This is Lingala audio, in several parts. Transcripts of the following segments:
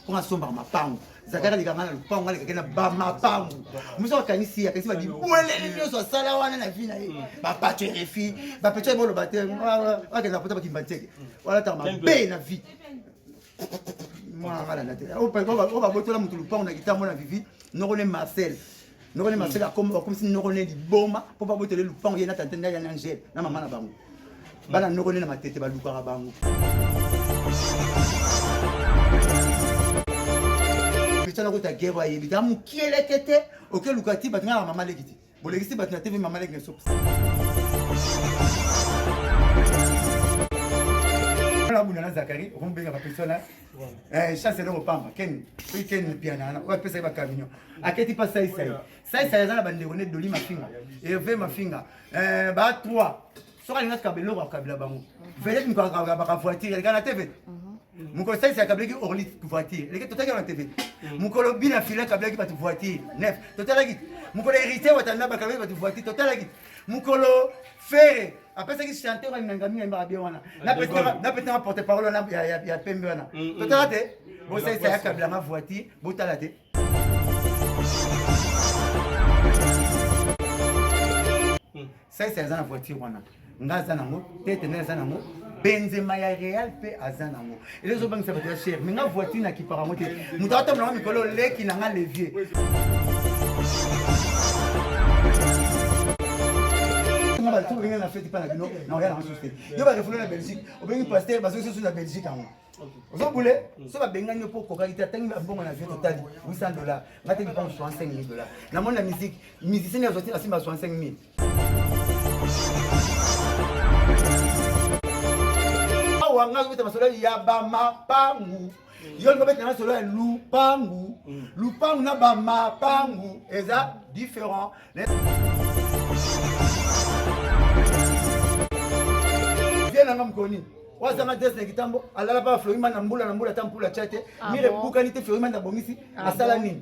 mpo nga sombaka mapangu zaka naleka nga na lopangu nga lekake na bamapangu mosu akanisi akanisi babibwelele nyonso asala wana na vi na ye mm. bapato erefi bapeto ye boloba te akenda pota bakimba nteke mm. walataka mabe na vi mwana nga landa te oyo babotola moto lopangu na kitambo na vivi noko ne marcel noko ne maseka akomba bakomisi noko ne liboma mpo babotele lupango ye na tante ndai ya na angele na mama na bango bana noko ne na matete balukaka bango pesa nakota gere ayebi ta mokie leke te okeluka ti bato ngaka mama leki ti bolekisi bato na tv mama leki na sopisa abunda na zakari okomi benga bapesona Eh, chance eloko pamba ken soki ken mpiana wana oyo apesaki bacaminion aketi mpa saisai saisai aza na bandeko ne doli mafinga eve mafinga eh, ba 3 soki alingaki kaba eloko akabila bango vedete miko akabaka voiture eleka na tv mokolo saisi akablaki orli voiture eleki totalaki na tv mokolo bina fila akablaki bato voiture nef totalaki mokolo héritier watanda bakablaki bato voiture totalaki mokolo fere apesaki chanteur ya ngangami yamba bien wana napetanga porte parole wana ya pembe wana mm, mm. totala te bosalisa ya kabilanga voiture botala te mm. salisa eza na voiture wana nga aza nango tete nde aza nango benzema ya real mpe aza nango eza ezobangisa bato ya chere me nga voiture na kipaka yango te moto atambolanga mikolo leki na nga levier nga bato obenge na fete mpa na bino na oya na basusu te yo barefoule na belgique obengi paster bazongisi susu na belgique yango ozo bule so babengani yo mpo okokaki te atangi babongo na vie totali 800 dollar nga te bipango 65 000 dollar namoni na musique musicien azwa te na simba 65 000 awa ngai obeta masolo ya bamapangu yo lingo obeta masolo ya lupangu mm. lupangu na bamapangu eza différent vie nanga mokoni wazanga des na kitambo alala pa floima na mbula na mbula ata mpula tya te ah mire ebukani te floima na bongisi ah asala nini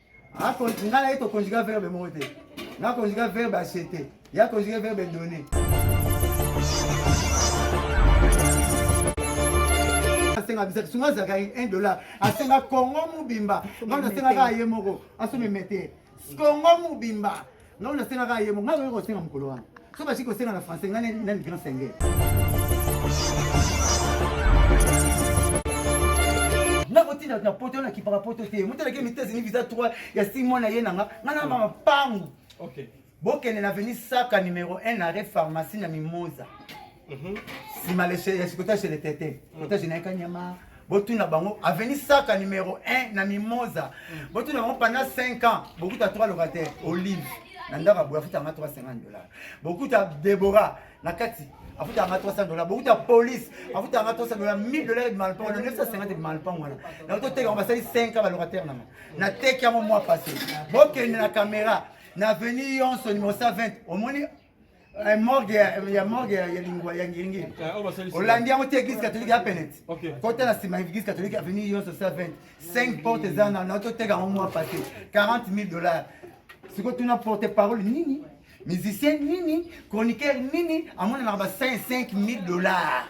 Ah, nga naye tokonjuga verbe moko te nga konjuga verbe acete ya konjuga verbe donne asenga bisa sunga azalaka 1 dollar asenga kongo mobimba nga nasengaka ye moko asomeme te kongo mobimba Nga oyo asenga kaka yemo, nga oyo kosenga mokolo wana. So basi kosenga na français, nga na ni grand senge. Nga kotinda na poto na kipaka poto te. Mutu alaki mitezi ni visa 3 ya 6 mois na ye na nga. Nga na mama pangu. Okay. Bokende na avenue Saka numéro 1 arrêt pharmacie na Mimosa. Mhm. Sima le chez Sikota chez le Tete. Kota chez Naka Nyama. botuna bango aveni saka numero 1 na mimosa mm. botuna bango pendant 5 ans bokuta 3 locataire olive na ndako aboye afutanga 350 dollar bokuta debora na kati afutanga 300 dollar bokuta police afutanga 300 dollar 1000 dollar ebima lopango wana 950 ebima lopango wana yango toteka yango basali 5 ans balocataire nanga nateki yango mwa passé bokende na caméra na aveni yonso numero 120 omoni Eh, morgue ya morgue ya lingua ya ngiringi eh, olandi yango te église catholique ya penet kota na nsima église catholique avenue yonso 120 5 porte eza na na toteka yango mwa pase 40 000 dollars sikoyo tuna porte parole nini musicien nini chroniqueur nini amonanaka ba 5 000 dollars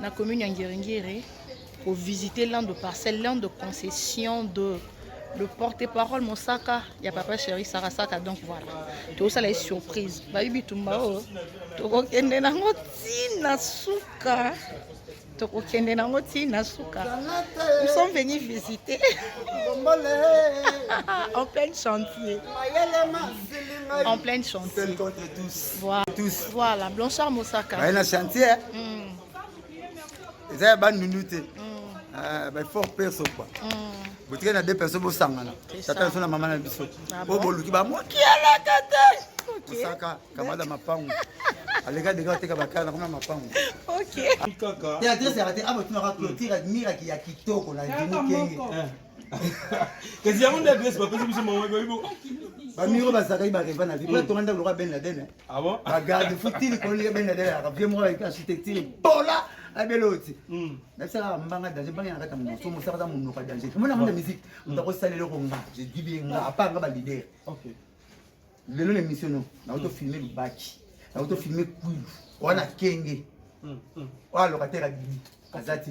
na commune ya Ngiringiri ko visiter l'un de parcelle, l'un de concession de le porte-parole Mosaka ya papa chéri Saka Saka donc voilà tokosala ye surprise bayi bitumba oyo tokokende nango ti na suka tokokende nango ti na suka nous sommes venus visiter en plein chantier en plein chantier Voilà. Tous. Voilà, Blanchard Mosaka. Bah, na chantier. Hein. Mm. Eza ya bandundu te. Mm. Ah, bah fort perso quoi. Mm. Botika na deux personnes bosangana. Tata sona mama na biso. Ah Bo boluki ba moki ala tata. Mosaka kamada mapangu. Alega dega teka bakana na koma mapangu. OK. Théâtre c'est raté. Abo tunaka clôture admira ki ya kitoko na Jimmy Kenge. kasi yango nde adresse bapesi biso mawabibo bamiro bazalaki bareva na vie po atonga ndako lokola ben laden bagarde futili kololika ben laden yaka vie moko avec architecture bola abela oti nabisalaka mbanga danger mbanga yanakata moso mosakata monoka danger omona yango na musique moto akosala eloko nga je dis bien nga apart nga balider lelo na émission no nakoto filme lubaki nakoto filme kwilu wana kenge oyo alocataire abimi aza ti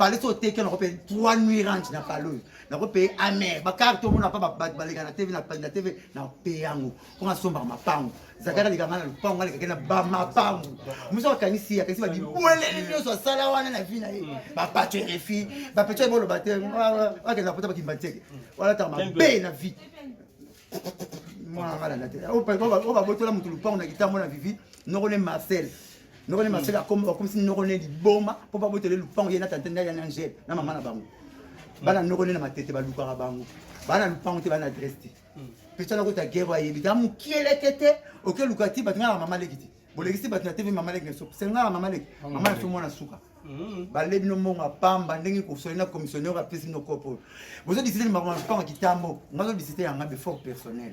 pale so oteki nako pe 3 nuit range na pale oyo nako pe amer bakarte omona pa baleka na tv na tv na pe yango mpo nasombaka mapango zakaka aleka ngai na lopango ngai alekake na bamapango mosu akanisi akanisi babibweleli nyonso asala wana na vi na ye bapaco erefi bapeco ye boloba te akenda pota bakimba nteke walataka mabe na vi mwana ngai landa te oyo babotola moto lopango na kitambo na vivi noko ne marcel noko ne maseka akomba bakomisi noko ne liboma mpo babotele lupango ye na tante ndali ya na angele na mama na bango bana noko ne na matete balukaka bango bana lupango te bana adresse te pesa nako ta guerre ayebi ta mukieleke te okeluka ti bato ngaka mama leki te bolekisi bato na tv mama leki na suka sengaka mama leki mama na so mwana suka mm-hmm. bale bino mbongo ya pamba ndenge kosoli na commissionnaire apesi bino kopo bozo disite limakambo na lupango kitambo nga zo disite yanga befort personnel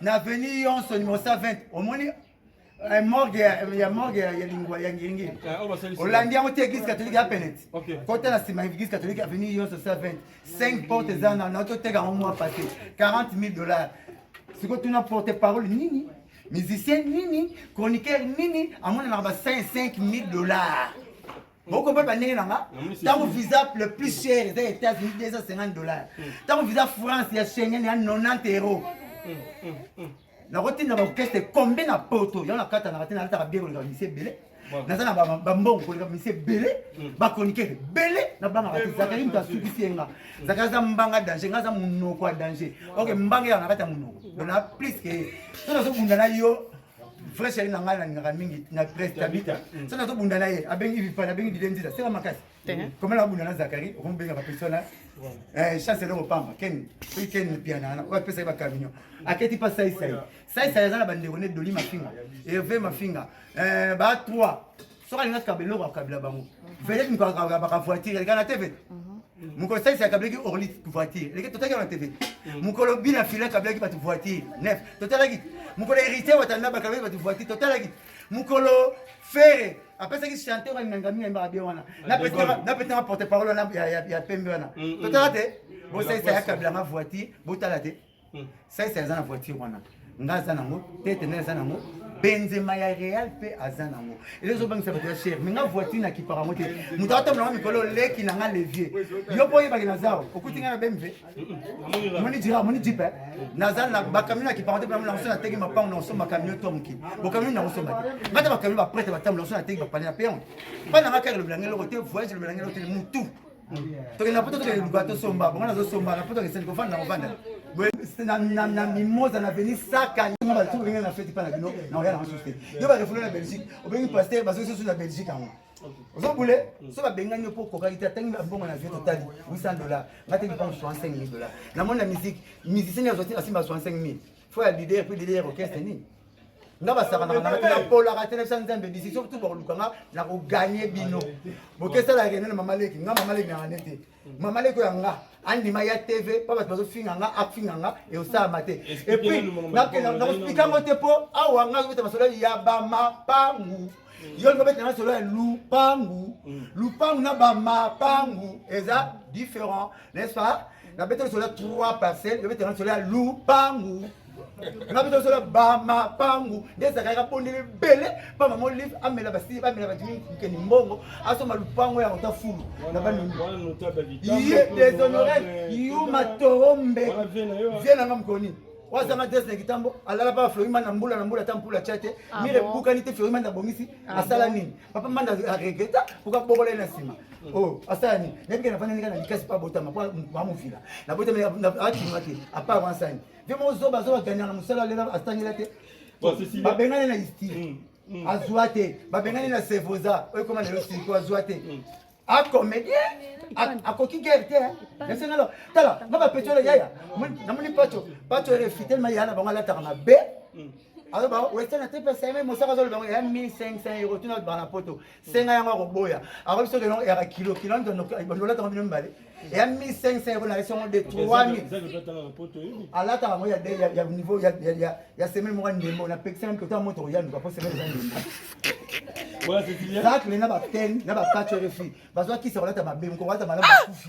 na avenue yonso numéro 120 omoni eh, morgue ya morgue ya lingua ya ngiringi eh, olandi yango te église catholique ya penet kota na nsima église catholique avenue yonso 120 5 porte eza na na toteka yango mwa pase 40 000 dollars sikoyo tuna porte parole nini musicien nini chroniqueur nini amonanaka ba 5 000 dollars bokomprendre bandenge na nga ntango visa le plus cher eza ya états-unis 250 dollars ntango visa france ya schengen ya 90 euro nakotinda baorchestre kombe na poto yango nakatanaka te nalataka bie koleka misi ebele naza na bambongo koleka misi ebele bakronikere ebele nabangaka te zakari moto asukisi ye nga zakari aza mbanga danger nga aza monoko ya danger oke mbanga eyaka na kati ya monoko bona plus ke so nazobunda na yo vrai chéri na ngai nalingaka mingi na presse tabita mm. soki nazobunda na ye abengi vipale abengi dilendisa sela makasi koma nakobunda na zakari okomobenga bapersona eh, chance elongo pamba ken soki ken mpiana wana oyo apesaki bacamion aketi mpa saisai saisai aza na bandeko ne doli mafinga herve mafinga eh, ba 3 soki alingaki kabila eloko akabila bango vedete mokolo akabaka voiture elekaka na tv mokolo salisi akabilaki orli voiture eleki totalaki na tv mokolo bina fila akabilaki bato voiture nef totalaki mokolo héritier watanda bakabilaki bato voiture totalaki mokolo fere apesaki chanteur alinanga mingi ayembaka bien wana napetanga porte parole wana ya pembe wana totala te bosalisa ya kabila nga voiture botala te Hmm. Saisa aza na voiture wana. Nga aza nango, tete na aza nango. Benzema ya Real pe aza nango. Ele zo bangisa ba cher, mais nga voiture na kipara mote. Mutu atambola na mikolo leki na nga levier. Yo po yeba kina zao, okuti nga na BMW. Hmm. Moni dira, moni jipe. Eh? Naza na ba camion na kipara te, na so na teki mapango na so ma camion to mki. Bo camion na so ma. Nga ta ba camion ba prête ba tambola so na teki ba panela pe. Bana nga kaka le blangelo te, voyage le blangelo te mutu. tokende na poto tokende luka tosomba bongo nazosomba na poto keseni kofanda na kofanda na mimosa na veni saka nga bato obengi na feti mpa na bino na oya na basusu te yo barefoule na belgique obengi paster bazoki susu na belgique yango ozo bule so babengani yo mpo okokaki te atangi mbongo na vie totali 800 dollar nga te bipango 65 000 dollar namoni na musique musicien azwa te asimba 65 000 fo ya leader mpe leader ya orchestre nini nga basakanaka nga te napolaka te nabisa nzambe decision tu bakoluka nga na koganye bino bokesala rene na mama leki nga mama leki nanga ne te mama leki oyo ya nga andima ya tv mpo bato bazofinga nga afinga nga eosalama te epuis nakospika yango te mpo awa nga zokota masolo ya bamapangu Mm. yo lokola betanga solo ya lupangu mm. lupangu na bamapangu eza différent n'est-ce pas na betanga solo ya trois parcelle yo betanga solo ya lupangu na betanga solo ya bamapangu nde ezalaka yaka bondeli ebele mpa mama olive amela basi bamela badimi nkeni mbongo asomba lupangu yango ta fulu na banini ye deshonore yuma toro mbe vie nanga mokoni wazanga des na kitambo alala pa fleury manda mbula na mbula ta mpula tya te ah mire bukani te fleury manda abongisi ah asala nini papa manda aregreta poka bokola ye na nsima mm. o oh, asala nini nayebike na fanda ndenge na likasi pa botama po bamofila na botama atinga te apart wansani vie moko zoba zoba ganyaka mosala lela asangela te babengani na istire mm. azwa te babengani na sevoza oyo ekoma na yo siko azwa te mm. akomedien akoki guerre te nasengalo tala nga bapeti oyo yaya namoni paco paco erefi telema yaya na bango alataka mabe mm. aloba western ate pesa ye mosaka azoloba yango ya 1500 euro tuna bango na poto senga yango akoboya akobi soki elongo eyaka kilo kilo ndolataka bino mibale ya 1500 ekolaka esi yango de 3000 alataka yango ya niveau ya semaine moko ndembo napekisa yango kota moto koyanduka mpo semaine eza ndembo zakle na baptene na bapatch rfi bazwa kisa kolata mabe moko kolata malamu bakufi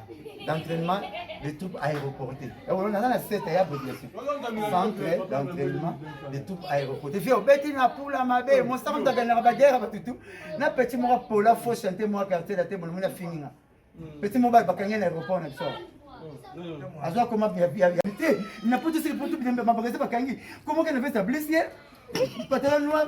d'entraînement des troupes aéroportées. Et on a la cette ya population. Centre d'entraînement des troupes aéroportées. Vieux beti na pula mabe, mon sang ta gana ba guerre ba tutu. Na petit mo pola fo chanter mo quartier la table mo na fininga. Petit mo ba bakanga na aéroport na biso. Azwa koma bia bia bia. Te, na putu sili putu bia mabagaza bakangi. Comment que na veste blessé? Patala noir,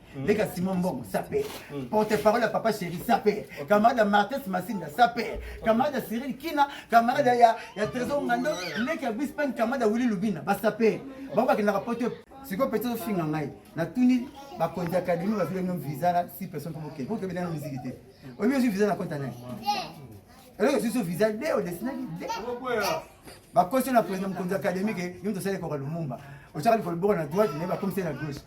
Mm. leka simon mbongo sape mm. porte parole ya papa chéri sape camarade ya martes masinda sape camarade ya cyril kina camarade ya trésor ngando mm. leki ya bispen camarade ya willi lubina basape bango bakendaka poto sikoyo peti ofinga ngai natuni bakonzi akademi bazwi bino visa na si personne mpo bokende mpo tobedana miziki te oyebi ozwi visa na konta nani eloko esusu visa de odesinaki de bakosi na président mokonzi ya académie ke yo moto osali ekoka lumumba otyaka likolo boko na droite naye bakomisi na gauche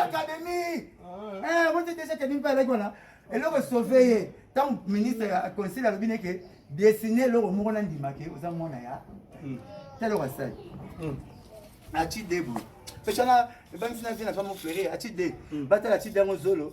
académie ote deja académie mpe alaki wana eloko esauve ye ntango ministre ya conseil alobi neke dessine eloko moko na ndima ke oza mwana ya hmm. ta eloko asali hmm. aci deboye peshana ebangisi na vie na femme oflere aci de hmm. batala aci de yango zolo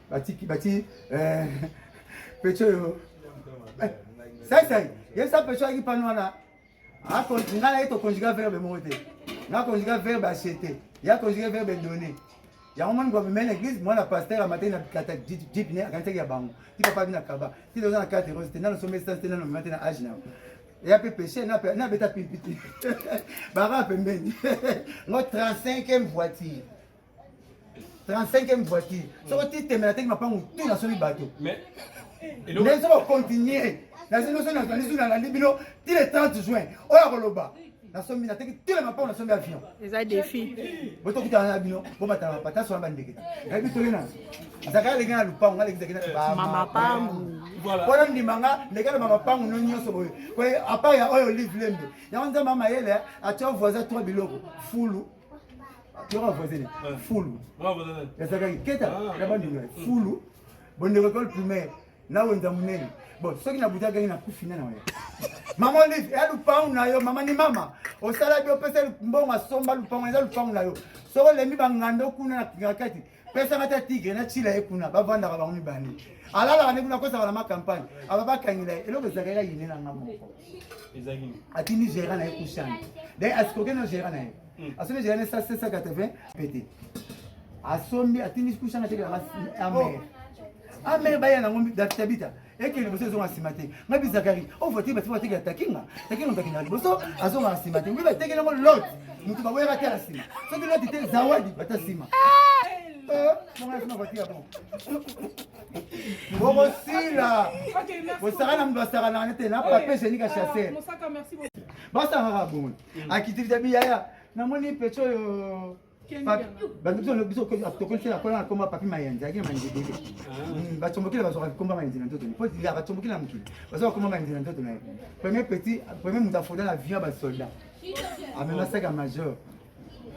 batiki bati eh, pecho yo eh, sai sai yesa pecho ayaki pano wana nga naye tokonjuga verbe moko te nakonjuga verbe achete ya konjuga verbe donne yango moni kwa bimene eglise mwana pasteur amataki na bikata jipine akanisaki ya bango ti papa bina kaba ti toza na carte rose te nano somba essence te nano mema te na age na yango ya mpe peche nabeta pimpiti baka pembeni ngo 35e voiture 35e voiture soko titemela teki mapangu tu na soki bato ndenge soko continue nazi noso nazali zuna nalandi bino ti le 30 juin oyo akoloba nasombi nateki tile mapango nasombi avion eza defi botokutana na bino bomatala mapata sola bandeke nayebi toli na nzaka aleki na lupango ngaleki zaki namapango mpona ndima nga ndeke na bamapango no nyonso boye apart ya oyo olive lembe yango nzambe amayele atya voisin tro biloko fulu yoko voisine eh. fulu nazalaki keta ah, na bandunga mm. fulu bondeko ekole primaire na wenza monene bon soki nabutaki nakufi na na waya mama olive ya lupangu na yo mama ni mama osala bi opesa mbongo asomba lupangu eza lupangu na yo soki olembi bangando kuna na kingakati pesa mata tigre na chila ye kuna bavandaka bango mibale alalaka nde kuna akosaka na makampagne aba bakangela ye eloko ezalaka ya yine na nga moko atindi gera na ye kushani de asikoke na gera na ye hmm. asomi gera na ye 780 pete asombi atindi kushani atekela amere oh. amere baya nango databita eke liboso ezonga nsima te ngabi zakari ovoti basi batekela takinga takinga takinga liboso azonga nsima te mpe batekela yango lot moto baboyaka te na nsima soki loti te zawadi bata nsima bokosila bosaka na moto asakanaka nete na pape jenika chassel basangaka bongo akitivita biyaya namoni peco oyo tokolisi nakola nakoma papi mayanzi ayaki na mayanzi ebele bacombokile bazwaka bikomba mayanzi na nzoto po ya bacombokile na mokili bazwa bakoma mayanzi na nzoto na ye premier petit premier moto afoda na vion ya basoldat amema saka majeur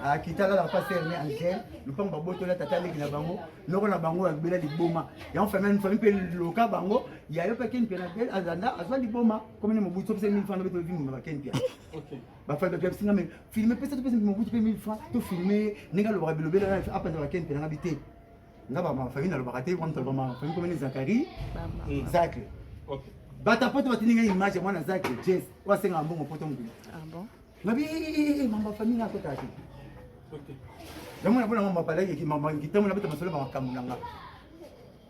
akita lala pa serme angel lupango babotola tata leki na bango noko na bango abela liboma yango famille famille mpe loka bango yayo mpe ken mpe na azanda azwa liboma komini mobutu opesa mini fana bete ovimuma bakeni mpe bafabakabisi nga me filme pesa topesa mobutu mpe 1000 franc tofilme ye ndenge alobaka bilobela na apanzaka ken mpe nanga bi te nga bamafamille nalobaka te wana toloba mafamille komene zakari zacle bata poto batindi nga image ya mwana zacle jes oyo asengaka mbongo poto mokili ngabi mamba famille akotaka te yango na mpona mamba palaki kitambo na beta masolo makambo na nga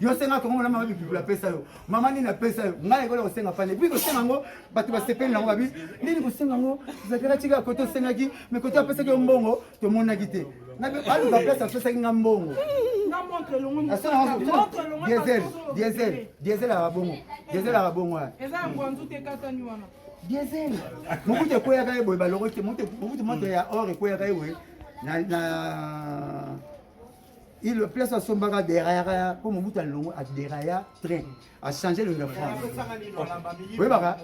yo senga tongo molama babi bibula apesa yo mama nini apesa yo ngai ekola kosenga pane epuis kosenga yango bato basepeli nango babi nini kosenga yango zakela tika kote osengaki me kote apesaki yo mbongo tomonaki te aluka place apesaki nga mbongo diesel diesel diesel aka bongo diesel aka bongo ya diesel mokutu ekweyaka ye boye baloko te mokutu moto ya or ekweyaka ye boye na Il le place asombaka deraya po mobutu alongo aderaya train achange longo ya france oyebaka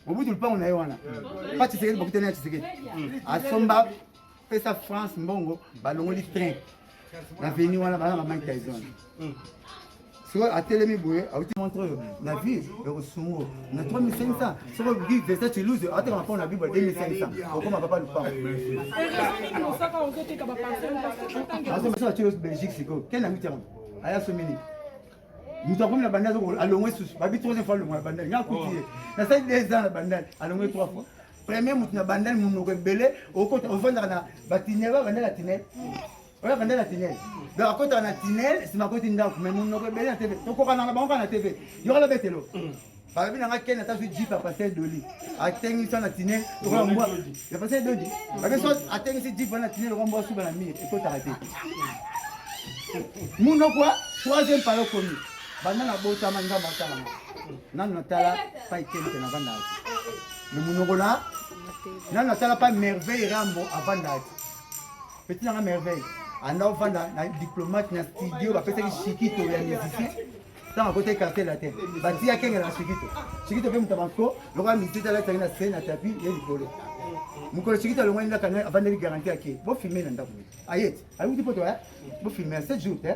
mobutu lupango na ye wana pa tshisekedi bakutani ya tshisekedi asomba pesa france mbongo balongoli train na veni wana bana ba mike tyson sikoyo atelemi boye auti montre oyo na vie ekosungu na 3500 soko bi vesa chiluze atekama mpo na bible 2500 okoma papa lupangoasomasala chiluze belgique sikoyo ken na mitiango aya somini moto akomi na bandal alongwe susu babi troisième fois alongwa na bandal nga akuti ye nasali deux ans na bandal alongwe trois fois premier moto na bandal monoko ebele okota ofandaka na batinel ba bandal atinel oyo avanda na tinel donc akotaka na tinel nsima akoti ndako mai monoko ebele na tv tokokana na bango kaka na tv yokola betelo balobi na nga ken ata zwi jip ya pasel doli atengisi wana tinel lokola mbwa ya pasel doli babe so atengisi jip wana tinel lokola mbwa suba na mire ekotaka te monoko troisième pala okomi banda na botama nzambe atalama nanu natala pai ken te navandaka te monoko na nanu natala pa merveille rambo avandaka te Petit nanga merveille anda ofanda na diplomate na studio bapesaki shikito ya musicien ntango akotaki quartier latin batiya kengela na shikito shikito mpe moto ya banko lokola misite alataki na se na tapi ye likolo mokolo shikito alongwani ndaka avandeli garanti ake bofilme na ndako ayeti ayuti poto bofilme ya 7 jour te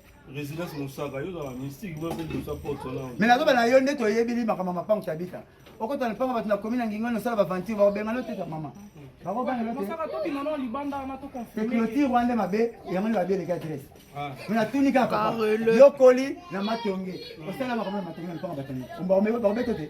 Residence Mosaka, yo dans la mystique, moi je suis pour ton nom. Mais nazo bana yo nde to yebi li makama mapango tabika. Oko tana panga batu na commune ngingo no sala ba venture ba benga no teta mama. Ba ko bana no. Mosaka to bima no libanda na to confirmer. Te clôture wande mabe, yango ni babe le ka tres. Ah. Muna tuni ka papa. Yo koli na matonge. Osala makama matonge na panga batani. Omba omebe ba beto te.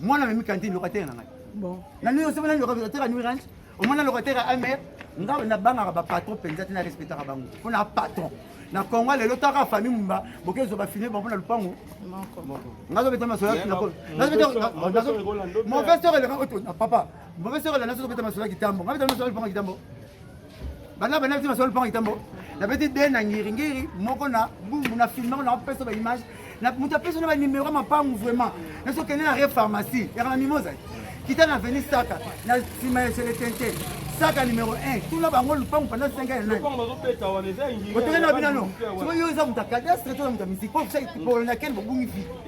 mwana memi kantine lokatera na ngai nani oso nani lokatera new ranch omona lokatera amer ngai nabangaka bapatron mpenza te na respectaka bango mpo na patron na congo lelo taka famille mumba boke zoba fini bango na lupango nazobeta masolaki mauvaise heure eleka papa mauvaise heure eleka nazobeta masolaki kitambo ngai beta masolaki lupango kitambo bana bana biso basolo mpango itambo nabeti de na ngiringiri moko na bumbu na filmako na kopesa ba image moto apesi na banimero ya mapangu vraiment naso kende na re pharmacie yaka na mimoza kita na veni saka na nsima ya seletente saka numero 1 tuna bango lupangu panda 5 ya nani otokenda na binano soki yo eza moto ya cadastre to na moto ya misiki po polonakene bobungi vi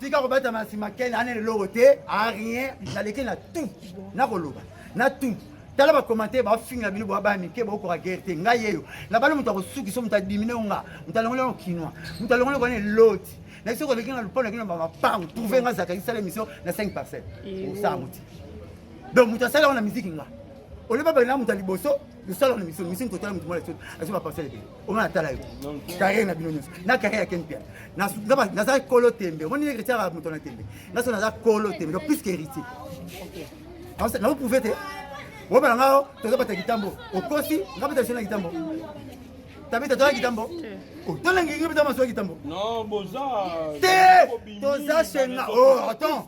tika kobeta na nsima kele anene eloko te a rien naleki na tout nakoloba na tout tala bakomante bafinga bino boa baya mike bokoka gere te ngai yeyo nabali moto akosukisa moto adimine onga moto alongoli yango kinois moto alongoli kwana eloti na biso koleki na lupona kino bamapango trouve nga zaka isala émission na 5 parcelle osala moti donc moto asali yango na miziki nga oleba bali na moto ya liboso misala na miso miso mikotala motu mwana soki azo baparcele ebele omona atala yo carrière na bino nyonso na carrière ya ken pia naza kolo tembe omoni héritier ya moto na tembe naso naza kolo tembe donc plus que héritier na oprouve te obala ngao toza bata kitambo okosi nga beta lisona kitambo tabeta toza kitambo tolengi ngi beta masoya kitambo te toza shenga o oh, attends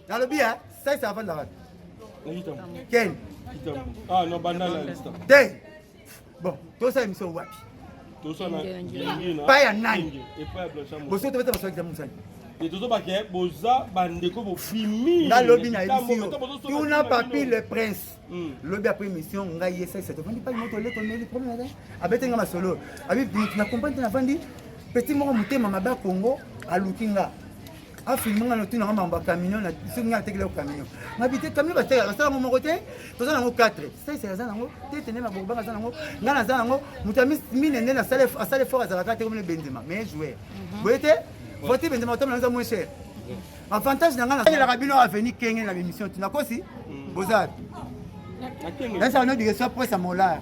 nalobi ya saisa afandaka ken ah, te bon tosala emission wapi pa ya nani boso tobeta baso examen mosani tozobake boza bandeko bofimi nga lobi na emission tuna papi le prince hmm. lobi apres émission ngai esakisa tofandi pai moto oleko meli problème aza abete nga masolo abi na comprendre te nafandi petit moko motema mabe ya congo aluki nga afilme nga notuna nga mambo ya camion soki nga atekela yo camion ngabi te camion bateka basala yango moko te toza nango 4 sese aza nango tete nde mabobanga aza nango nga naza nango moto ya mine nde asala effort azalaka te komine benzema mais joueur mhm. boye te voiture benzema otambola eza moins cher avantage na nga naelaka bino aveni kenge na bemission ti nakosi mm. boza nasala no dikeso apres ya molar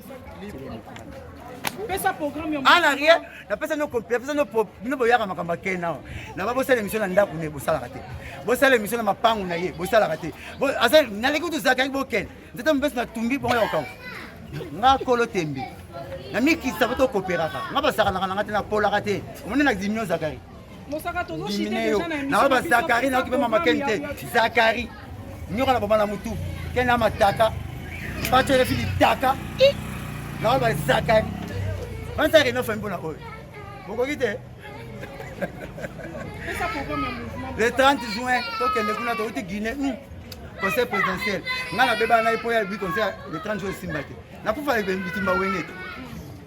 pesa programme ya ana rien napesa no complet napesa no pro bino boyaka makambo ake nao na ba bosala émission na ndako ne bosalaka te bosala émission na mapangu na ye bosalaka te aza naleki kutu zaka yangi bokende nzete mopesi na tumbi bongo ya kokau nga kolo tembe na mikisa po tokoperaka nga basakanaka na nga te napolaka te omoni na dimio zakari naoyo bazakari naoki mpe mama keni te zakari nyoka na boma na motu keni na mataka bato elefi litaka naoyo bazakari bansa reno fami mpona oyo bokoki te le 30 juin tokende kuna tokoti guinée hmm. conseil présidentiel ngai nabebana na ye mpo ya bi conseil le 30 juin esimba te nakufa bitimba wenge te